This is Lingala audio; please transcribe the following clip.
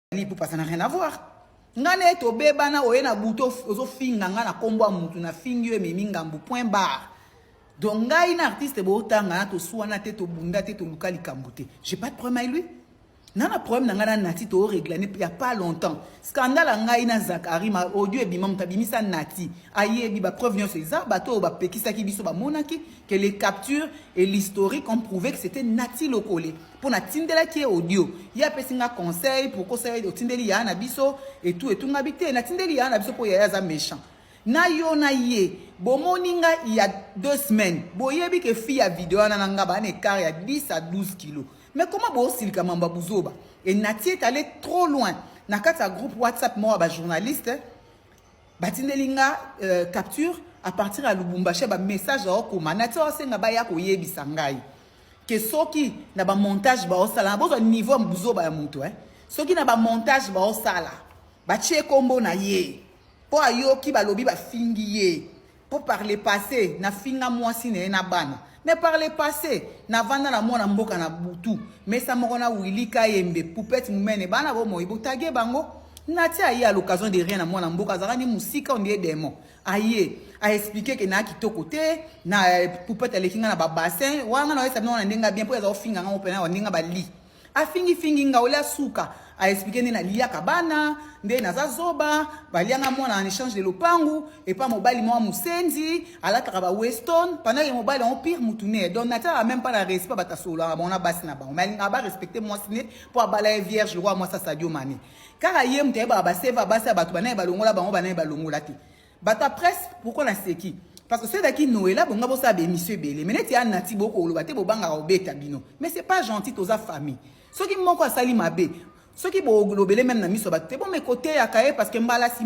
Fally Ipupa ça n'a rien à voir nga na ye tobebana oye na butu ozofinga nga na nkombo ya motu nafingi yo ememi ngambo point barre donc ngai na artiste bootanga na tosuana te tobunda te toluka likambo te j'ai pas de problème avec lui na na problème na ngai na nati tooreglane ya pas longtemps scandale ya ngai na zakari ma audio ebima moto abimisa nati ayebi bapreuve nyonso eza bato oyo bapekisaki biso bamonaki que les captures et l'historique ont prouvé que c'était nati lokole mpo natindelaki ye audio ye apesi nga conseil pourkosa ye otindeli yaya na biso etu etungabi te natindeli yaya na biso mpo yaya aza méchant na yo na ye bomoni nga il ya deux semaines boyebi ke fi ya video wana na nga baa na écart ya 10 à 12 kilo mais koma boosilika mambo ya buzoba e natie tale trop loin na kati ya groupe whatsapp moko ya bajournaliste batindeli nga euh, capture à partir ya lubumbashi ba message aokoma nati aosenga baya koyebisa ngai ke soki na bamontage baosala na bozwa niveau ya buzoba ya moto eh? soki na bamontage baosala batie nkombo na ye mpo ayoki balobi bafingi ye Po par le passe na finga mwasi na ye na bana. Mais par le passe na vanda na mwana mboka na butu mesa moko na Willy Kayembe poupette mumene bana bo moyi botage bango. Natia aye à l'occasion de rien na mwana mboka azalaka ni musika on dirait demon. Aye a expliquer que na kitoko te na poupette aleki nga na ba bassin wana na yesa bino na ndenga bien po aza ofinga nga opena wa ndenga ba lit. afingi fingi nga olia suka a expliquer nde naliyaka bana nde naza zoba balianga mwana en échange de lopangu epa mobali mwa musenzi alataka ba weston pendant ye mobali yango pire mutu ne donc natalaka même pas na respect bato asololaka bango na basi na bango mais alingaka ba respecte mwasi ne mpo abala ye vierge lokola mwasi asadio mane kaka ye moto ayebaka baseva basi ya bato banaye balongola bango banaye balongola te Bata presse pourquoi na seki parce que soki ezalaki noela bonga bosala baémission ebele me neti ya nati bokoloba te bobangaka kobeta bino mais c'est pas gentil toza famille soki moko asali mabe soki bolobele meme na miso ya bato te bomekoteyaka ye parce que mbala nsima